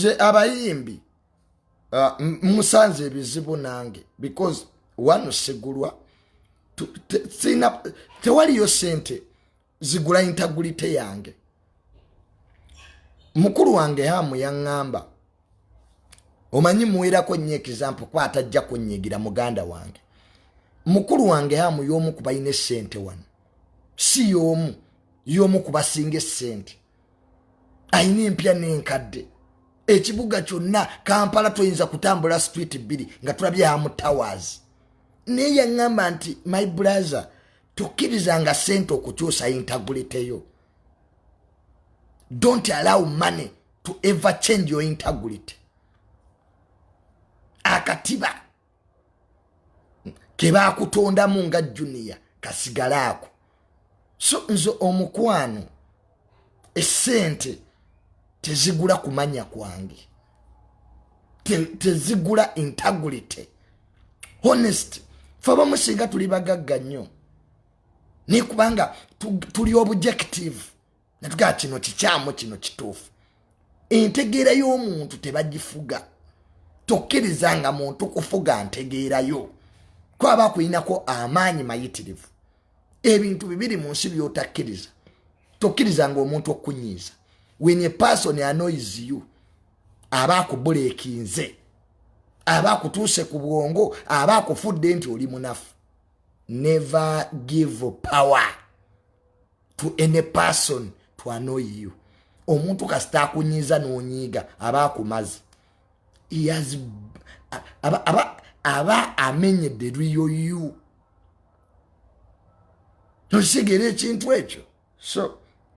nze abayimbi uh, musanze ebizibu nange because wano sigulwa tewaliyo sente zigula intagulite yange mukulu wange hamu yaŋŋamba omanyi muwerako nnyo ekizampu kuba atajja kunyigira muganda wange mukulu wange hamu y'omu ku balina essente wano si y'omu y'omu ku basinga essente alina empya n'enkadde ekibuga kyonna kampala toyinza kutambula street bbiri nga tulabye amu towers naye yaŋŋamba nti my brother tokkirizanga sente okukyusa intaguliteyo don't allow money to ever change your intagulity akatiba kebakutondamu nga junior kasigalaako so nze omukwano esente tezigula kumanya kwange tezigula integrity honest fe abamu singa tuli bagagga nnyo naye kubanga tuli objective natugaa kino kikyamu kino kituufu entegeera y'omuntu tebagifuga tokkiriza nga muntu kufuga ntegeerayo kwaba akulinako amaanyi mayitirivu ebintu bibiri mu nsi byotakkiriza tokkiriza nga omuntu okukunyiiza when a person anois you aba akubuleekinze aba akutuuse ku bwongo aba akufudde nti oli munafu never give power to any person to annoy you omuntu kasita akunyiiza n'onyiiga aba akumazi aba amenyedde eriyo you nokitegeera ekintu ekyo so